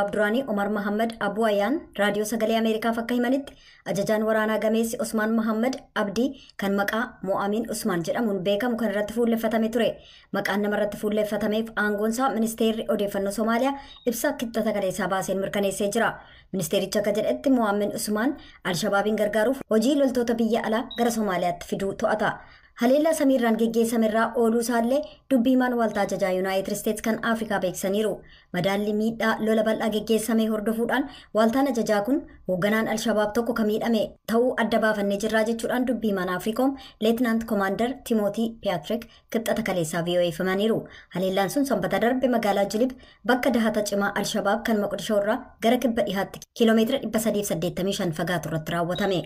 Abduraanii Omar Mahammad Abuu Ayaan Raadiyoo Sagalee Ameerikaaf akka himanitti ajajaan waraanaa gameessi Osmaan Mahammad Abdii kan maqaa Mo'aamiin Usmaan jedhamuun beekamu kan irratti fuulleffatame ture. Maqaan nama irratti fuulleffatameef aangoonsaa ministeerri odeeffannoo Somaaliyaa ibsa kibxata kaleessaa baaseen mirkaneessee jira. Ministeerichi akka jedhetti Mo'aamiin Usmaan Alshabaabiin gargaaruuf hojii loltoota biyya alaa gara Somaaliyaatti fiduu to'ata. Haleellaa samiirraan geggeessamerraa ooluu isaallee dubbi himaan waaltaa ajajaa Yuunaayitid Isteets kan Afrikaa beeksisaniiru. Madaalli miidhaa lola bal'aa geggeessamee hordofuudhaan waaltaan ajajaa kun hoogganaan Alshabaab tokko ka miidhame ta'uu adda baafannee jirraa jechuudhaan dubbi himaan Afriikoom Leetinaant Komaandar Timootii Piyaatrik kibxata kaleessaa VOA'f himaniiru. Haleellaan sun sanbata darbe magaalaa Jilib bakka dahata cimaa Alshabaab kan Moqdishoo irraa gara kibba dhihaatti kiiloomeetira 385 fagaatu irratti raawwatame.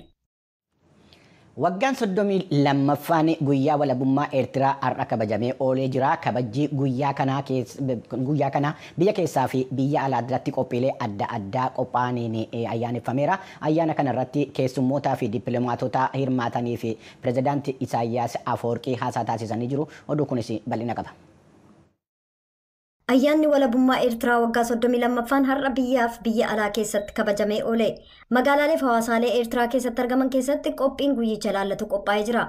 Waggaan 32ffaan guyyaa walabummaa Eertiraa har'a kabajamee oolee jira. Kabajjii guyyaa kanaa guyyaa kana biyya keessaa fi biyya alaa irratti qophiilee adda addaa qophaa'aniin ayyaaneffameera. Ayyaana kana irratti keessummootaa fi dippiloomaatota hirmaatanii fi pirezidaanti Isaayyaas Afawarqii haasaa taasisanii jiru. Oduu kunis bal'ina qaba. Ayyaanni walabummaa Eertiraa waggaa 32ffaan har'a biyyaaf biyya alaa keessatti kabajamee oole. Magaalaaleef hawaasaalee Eertiraa keessatti argaman keessatti qophiin guyyicha ilaallatu qophaa'ee jira.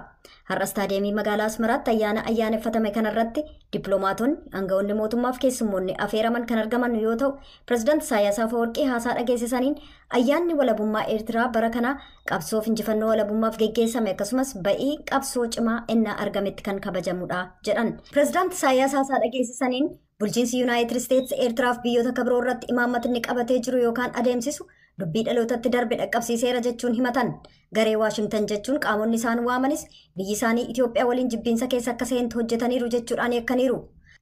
Har'a istaadiyeemii magaalaa Asmaraatti ayyaana ayyaaneffatame kanarratti dippiloomaatonni, aangawoonni mootummaaf keessummoonni afeeraman kan argaman yoo ta'u, pirezidaanti Isaayyaas Afawarqii haasaa dhageessisaniin ayyaanni walabummaa Eertiraa bara kanaa Qabsoof injifannoo walabummaaf geggeessame akkasumas ba'ii qabsoo cimaa ennaa argametti kan kabajamudha jedhan. Pireezidaant Isaayyaas haasaa dhageessisaniin bulchiinsi Yuunaayitid Isteets Eertiraaf biyyoota akka biroo irratti imaammatni qabatee jiru yookaan adeemsisu dubbii dhalootatti darbe dhaqqabsiiseera jechuun himatan. Garee Waashingtan jechuun qaamonni isaan waamanis biyyi isaanii Itoophiyaa waliin jibbiinsa keessa akka seentu hojjetaniiru jechuudhaan yakkaniiru.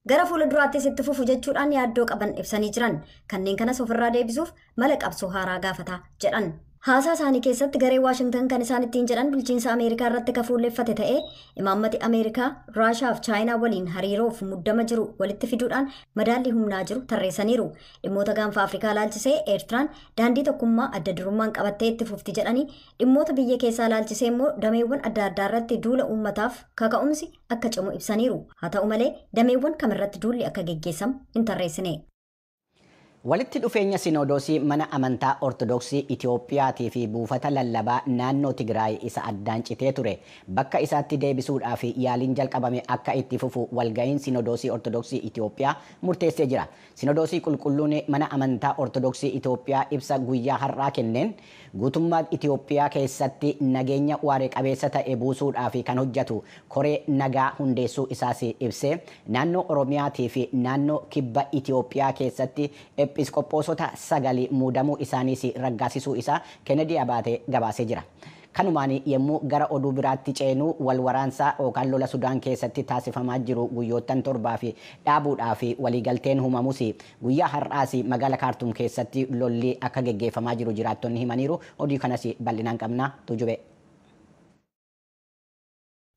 Gara fuula duraattis itti fufu jechuudhaan yaaddoo qaban ibsanii jiran. Kanneen kanas ofirraa deebisuuf mala qabsoo haaraa gaafata jedhan. Haasaa isaanii keessatti garee Waashingtan kan isaan ittiin jedhan bulchiinsa Ameerikaa irratti ka fuulleffate ta'ee imaammati Ameerikaa Raashaa fi Chaayinaa waliin hariiroof muddama jiru walitti fiduudhaan madaallii humnaa jiru tarreessaniiru. Dhimmoota gaanfa Afrikaa ilaalchisee Eertiraan daandii tokkummaa adda durummaan qabattee itti fufti jedhanii dhimmoota biyya keessaa ilaalchisee immoo dameewwan adda addaa irratti duula uummataaf kaka'umsi akka cimu ibsaniiru. Haa ta'u malee dameewwan kamirratti duulli akka geggeessamu hin tarreessine. Walitti dhufeenya Sinoodoosii Mana Amantaa Ortodoksii Itoophiyaatii fi Buufata Lallabaa Naannoo Tigraay isa addaan citee ture bakka isaatti deebisuudhaaf yaaliin jalqabame akka itti fufu Walga'iin Sinoodoosii Ortodoksii Itoophiyaa murteessee jira. Sinoodoosii Qulqulluun Mana Amantaa Ortodoksii Itoophiyaa ibsa guyyaa har'aa kenneen, Guutummaa Itiyoophiyaa keessatti nageenya waare qabeessa ta'e buusuudhaaf kan hojjetu koree nagaa hundeessuu isaas ibsee, naannoo Oromiyaatii fi naannoo Kibba Itiyoophiyaa keessatti Ephisqophoosota sagal muudamuu isaaniis raggaasisuu isaa Kennedy Abaate gabaasee jira. Kanumaan yemmuu gara oduu biraatti ceenu wal waraansa yookaan lola Sudaan keessatti taasifamaa jiru guyyoottan torbaaf dhaabuudhaaf waliigalteen humamus Guyyaa har'aas magaala Kaartuum keessatti lolli akka geggeeffamaa jiru jiraattonni himaniiru. Oduu kanas bal'inaan qabna. Tuujubee.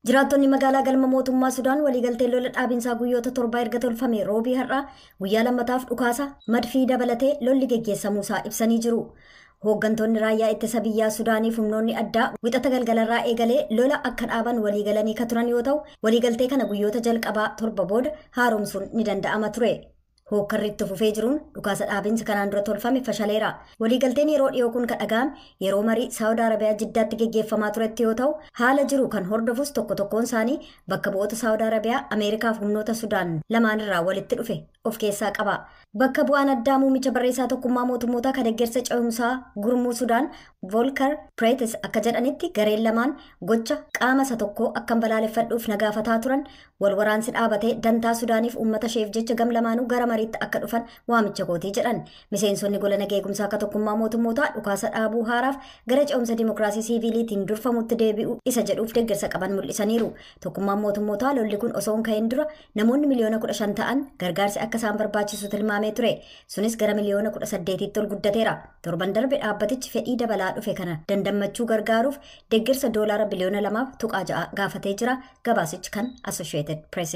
Jiraattonni magaalaa galma mootummaa Sudaan waliigalteen lola dhaabinsaa guyyoota torbaa erga tolfame roobii har'aa guyyaa lammataaf dhukaasa madfii dabalatee lolli geggeessamuusaa ibsanii jiru. Hooggantoonni raayyaa ittisa biyyaa Sudaanii fi humnoonni addaa wixata galgalarraa eegalee lola akka dhaaban waliigalanii ka turan yoo ta'u, waliigaltee kana guyyoota jalqabaa torba booda haaromsuun ni danda'ama ture. Hookkarri itti fufee jiruun dhukaasa dhaabinsi kanaan dura tolfame fashaleera. Waliigalteen yeroo dhiyoo kun kan dhaga'ame yeroo marii Saawud Arabiyaa Jiddaatti geggeeffamaa turetti yoo ta'u, haala jiru kan hordofus tokko tokkoon isaanii bakka bu'oota Saawud Arabiyaa, Ameerikaaf humnoota Sudaan lamaanirraa walitti dhufe of keessaa qaba. Bakka bu'aan addaa muummicha barreessaa tokkummaa mootummootaa kan deeggarsa ce'umsaa gurmuu Sudaan Volkar Preetes akka jedhanitti gareen lamaan gocha qaama isa tokkoo akkan balaaleffadhuuf na gaafataa turan Wal waraansi dhaabatee dantaa Sudaaniif uummata isheef jecha gam lamaanuu gara mariitti akka dhufan waamicha kootii jedhan. Miseensonni gola nageegumsaa akka tokkummaa mootummootaa dhukaasa dhaabuu haaraaf gara ce'umsa dimokiraasii siiviiliitiin durfamutti deebi'u isa jedhuuf deeggarsa qaban mul'isaniiru. Tokkummaan mootummootaa lolli kun osoo hin ka'in dura namoonni miliyoona 15 ta'an gargaarsi akka isaan barbaachisu tilmaamee ture. Sunis gara miliyoona 18tti ol guddateera. Torban darbe dhaabbatichi fedhii dabalaa dhufe kana dandammachuu gargaaruuf deeggarsa doolaara biliyoona 2.6 gaafatee jira. Gabaasichi kan Associated Press.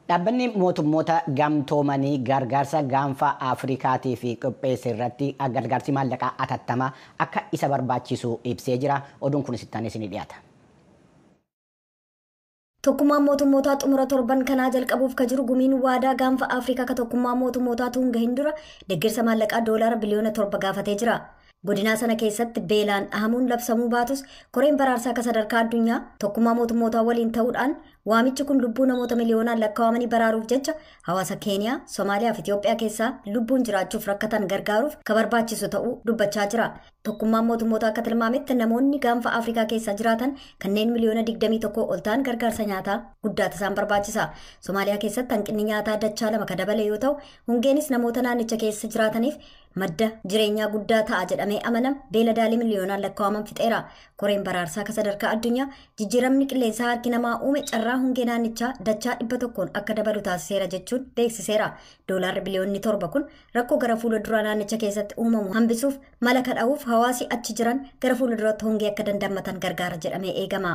Dhaabbanni mootummoota gamtoomanii gargaarsa gaanfa Afrikaatiif qopheesse irratti gargaarsi maallaqaa atattamaa akka isa barbaachisu ibsee jira. Oduun kunis itti aanee isinii dhiyaata. Tokkummaan mootummootaa xumura torban kanaa jalqabuuf ka jiru gumiin waadaa gaanfa Afrikaa ka tokkummaa mootummootaa tuun gahin dura deeggarsa maallaqaa doolaara biliyoona torba gaafatee jira. Godinaa sana keessatti beelaan dhahamuun labsamuu baatus koreen baraarsaa akka sadarkaa addunyaa tokkummaa mootummootaa waliin ta'uudhaan waamichi kun lubbuu namoota miliyoonaan lakkaawamanii baraaruuf jecha hawaasa Keeniyaa, Somaaliyaa fi Itoophiyaa keessaa lubbuun jiraachuuf rakkatan gargaaruuf ka barbaachisu ta'uu dubbachaa jira. Tokkummaan mootummootaa akka tilmaametti namoonni gaanfa Afrikaa keessaa jiraatan kanneen miliyoona 21 ol ta'an gargaarsa nyaataa guddaatu isaan barbaachisa. Somaaliyaa keessatti hanqinni nyaataa dachaa lama ka dabale yoo ta'u, hongeenis namoota naannicha keessa jiraataniif madda jireenyaa guddaa ta'a jedhamee amanam beeladaalee miliyoonaan lakkaa'aman fixeera. Koreen baraarsaa ka sadarkaa addunyaa jijjiiramni qilleensaa harki namaa uume carraa hongee naannichaa dachaa dhibba tokkoon akka dabalu taasiseera jechuun beeksiseera. Doolaarri biliyoonni torba kun rakkoo gara fuula duraa naannicha keessatti uumamu hambisuuf mala kadha'uuf hawaasi achi jiran gara fuula duratti hongee akka dandammatan gargaara jedhamee eegama.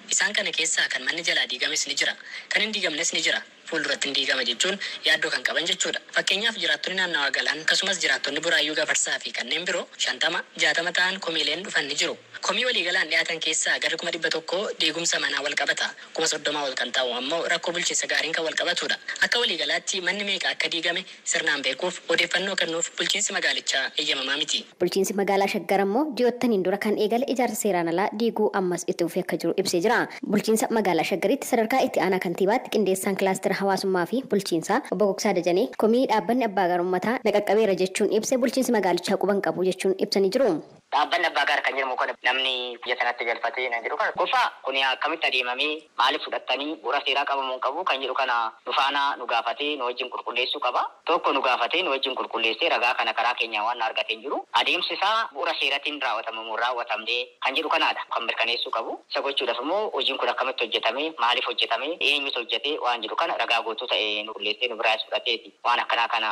Isaan kana keessaa kan manni jalaa diigames ni jira. Kan hin diigamnes ni jira. Fuulduratti ni diigama jechuun yaaddoo kan qaban jechuudha. Fakkeenyaaf jiraattonni naannawaa Galaan akkasumas jiraattonni Buraayyuu Gafarsaa fi kanneen biro 50, 60 ta'an komiileen dhufan ni jiru. Komii waliigalaan dhiyaatan keessaa garri kuma 100 diigumsa manaa walqabata. Kuma 30 ol kan ta'u ammoo rakkoo bulchiinsa gaariin kan walqabatuudha. Akka waliigalaatti manni meeqa akka diigame, sirnaan beekuuf odeeffannoo kennuuf bulchiinsi magaalichaa eeyyamamaa miti. Bulchiinsi magaalaa Shaggar ammoo ji'oottaniin dura kan eegale ijaarsa seeraan alaa diiguu ammas itti fufee akka jiru ibsee jira. Bulchiinsa magaalaa Shaggaritti sadarkaa itti aanaa kantiibaatti qindeessaan kilaastera hawaasummaa fi bulchiinsaa obbo Gugsaa Dajanee komii dhaabbanni abbaa gaar ummataa na qaqqabeera jechuun ibse bulchiinsi magaalichaa quba hin qabu jechuun ibsanii jiru. Dhaabbanni Abbaa Gaar kan jedhamu kun namni biyya sanatti galfatee kan jedhu kana qofa kuni akkamitti adeemamee maaliif fudhattanii bu'ura seeraa qaba moo hin qabu kan jedhu kana nu faana nu gaafatee nu wajjin qulqulleessuu qaba. Tokko nu gaafatee nu wajjin qulqulleessee ragaa kana karaa keenyaan waan argate hin jiru. Adeemsi isaa bu'ura seeratiin raawwatame moo hin raawwatamne kan jedhu kanaadha kan mirkaneessuu qabu. Isa gochuudhaaf immoo hojiin kun akkamitti hojjetame, maaliif hojjetame, eenyutu hojjete waan jedhu kana ragaa guutuu ta'e nu qulleessee nu biraayis fudhateeti waan akkanaa kana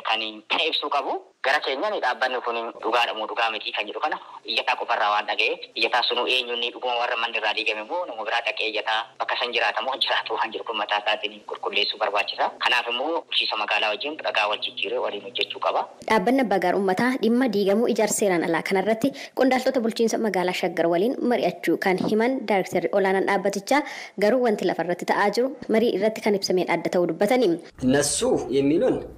kan ibsuu qabu. Gara keenyani dhaabbanni kuni dhugaadha moo dhugaa mitii kan jedhu kana iyyataa qofa irraa waan dhagayeef iyyataan sunuu eenyu inni dhuguma warra manni irraa diigame moo nama biraa dhaqee iyyataa bakka san jiraata moo hin jiraatu waan jedhu kun mataa isaatini qulqulleessuu barbaachisa. Kanaaf immoo bulchiinsa magaalaa wajjin ragaa wal jijjiiree waliin hojjechuu qaba. Dhaabbanni Abbaa Gaar Ummataa dhimma diigamuu ijaarsa seeraan alaa kana irratti qondaaltota bulchiinsa magaalaa Shaggar waliin mari'achuu kan himan Daarektarri Olaanaan dhaabbatichaa garuu wanti lafa irratti ta'aa jiru marii irratti kan ibsameen adda ta'uu dubbatani. Nassuuf Yemmiiloon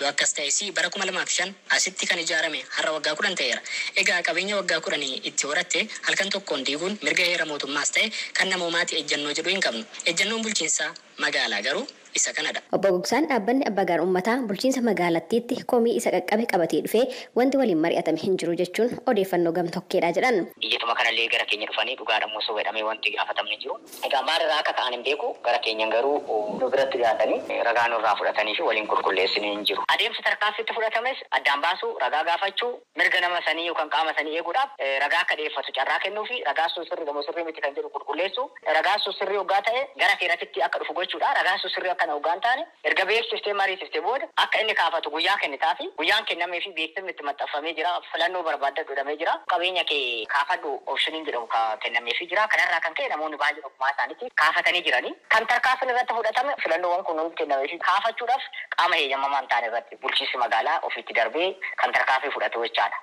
Yoo akkas ta'e sii bara 2005 asitti kan ijaarame har'a waggaa 10 ta'eera. Egaa qabeenya waggaa 10 itti horatte halkan tokkoon diiguun mirga heera mootummaas ta'e kan namoomaati ejjannoo jedhu hin qabnu. Ejjannoon bulchiinsa magaalaa garuu isa kanadha. Obbo Gogsaan dhaabbanni Abbaa Gaar Ummataa bulchiinsa magaalattiitti komii isa qaqqabe qabatee dhufe wanti waliin mari'atame hin jiru jechuun odeeffannoo gam-tokkeedha jedhan. Iyyatuma kanallee gara keenya dhufanii dhugaadhamoo soba jedhamee wanti gaafatamne hin jiru. Egaa maal irraa akka ka'an hin beeku, gara keenyan garuu. nu biratti dhiyaatanii ragaa nurraa fudhatanii fi waliin qulqulleessine hin jiru. Adeemsi tarkaanfii itti fudhatames addaan baasuu, ragaa gaafachuu, mirga nama sanii yookan qaama sanii eeguudhaaf ragaa akka dhiyeeffatu carraa kennuu fi ragaan sun sirri dha moo sirrii miti kan jedhu qulqulleessuu, ragaan sun sirrii oggaa ta'e gara seeratittii akka dhufu gochuu dha, ragaan sun sirrii akkana oggaa hin taane Erga beeksiftee mariisifte booda akka inni kaafatu guyyaa kennitaafii. Guyyaan kennameefii beeksifni itti maxxanfamee jira. Filannoo barbaaddadhu jedhamee jira. Qabeenya kee kaafadhu option jedhamu kennameefii jira. Kanarraa kan ka'e namoonni baay'een ofumaa isaaniitii kaafatanii jirani. Kan tarkaanfiin irratti fudhatame filannoowwan kun hundi kennameefii kaafachuudhaaf qaama heeyyamamaa hin taane irratti bulchiinsi magaalaa ofiitti darbee kan tarkaanfii fudhatu jechaadha.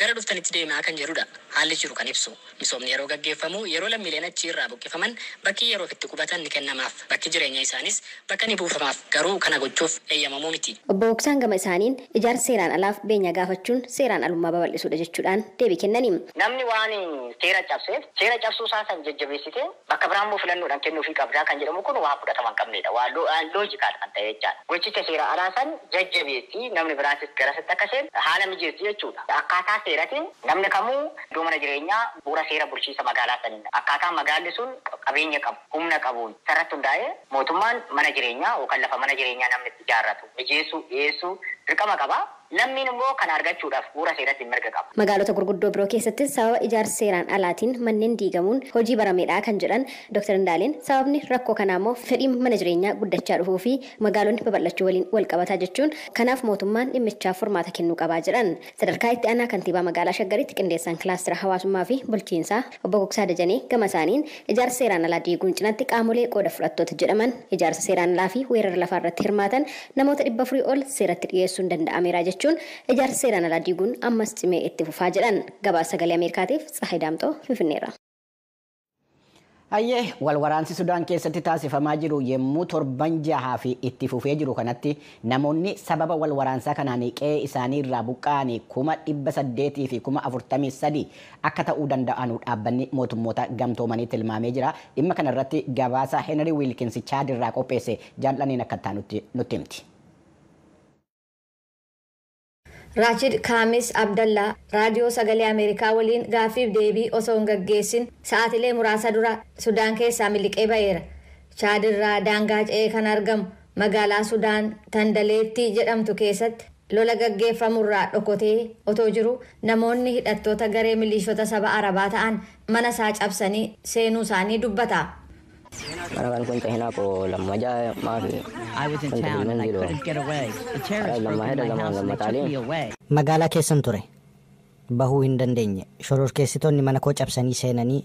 gara dhuftanitti deemaa kan jedhu dha. Haalli jiru kan ibsu. Misoomni yeroo gaggeeffamu yeroo lammiileen achii irraa buqqifaman bakki yeroof itti qubatan ni kennamaaf. Bakki jireenya isaaniis bakka ni buufamaaf. Garuu kana gochuuf eeyyamamuu miti. Obbo Moksaan gama isaaniin ijaarsa seeraan alaaf beenyaa gaafachuun seeraan alummaa babal'isuu dha jechuu dhaan deebii kennani. Namni waan seera cabseef seera cabsuu isaa san jajjabeessitee Bakka biraa immoo filannoodhaan kennuufii qabda kan jedhamu kun waan fudhatama hin qabneedha. Waan unlogical kan ta'e jechaadha. Gochicha seera alaa san jajjabeessi, namni biraatis garasitti akka seenu haala mijeessi jechuudha. Akkaataa seeratiin namni kamuu iddoo mana jireenyaa bu'uura seera bulchiinsa magaalaa saniin akkaataa magaalli sun qabeenya qabu, humna qabuun isarratti hundaa'ee mootummaan mana jireenyaa yookaan lafa mana jireenyaa namni itti ijaarratu mijeessuu, dhiyeessuu dirqama qaba. Lammiin immoo kana argachuudhaaf bu'uura seeratiin mirga qaba. Magaalota gurguddoo biroo keessattis sababa ijaarsa seeraan alaatiin manneen diigamuun hojii barameedha kan jedhan Doktar Indaaleen, sababni rakkoo kanaa immoo fedhiin mana jireenyaa guddachaa dhufuufi magaalonni babal'achuu waliin walqabata jechuun kanaaf mootummaan dhimmichaaf furmaata kennuu qaba jedhan. Sadarkaa Itti Aanaa Kantiibaa Magaalaa Shaggaritti Qindeessaan Kilaastera Hawaasummaafi Bulchiinsaa. Obbo Gugsaa Dajanee gama isaaniin, ijaarsa seeraan alaa diiguun cinatti qaamolee qooda fudhattoota jedhaman, ijaarsa seeraan alaa fi weerara lafaa irratti hirmaatan namoota 400 ol seeratti dhiyeessuun danda'ameera jechuun, ijaarsa seeraan alaa diiguun ammas cimee itti fufaa jedhan. Gabaasa Sagalee Ameerikaatiif Tsahaay Daamxoo Finfinneerraa. Hayyee, wal waraansi Sudaan keessatti taasifamaa jiru yemmuu torban jahaaf itti fufee jiru kanatti namoonni sababa wal waraansaa kanaan qe'ee isaanii irraa buqqa'an kuma 800 fi kuma 43 akka ta'uu danda'anu Dhaabbanni Mootummoota Gamtoomanii tilmaamee jira. Dhimma kana irratti gabaasa Henry Wilkins Chaad irraa qopheesse Jaal'anneen akka itti aanutti nutti himti. Raachid Kaamis Abdallaa Raadiyoo Sagalee Ameerikaa waliin gaaffiif deebii osoo hin gaggeessin sa'aatilee muraasa dura Sudaan keessaa miliqee ba'eera. Chaad irraa daangaa ce'ee kan argamu magaalaa Sudaan Tandaleetti jedhamtu keessatti lola gaggeeffamu irraa dhokotee otoo jiruu namoonni hidhattoota garee miliishota saba Arabaa ta'an mana isaa cabsanii seenuu isaanii dubbata. Magaalaa keessan ture. Bahuu hin dandeenye. Shororkeessitoonni mana koo cabsanii seenanii.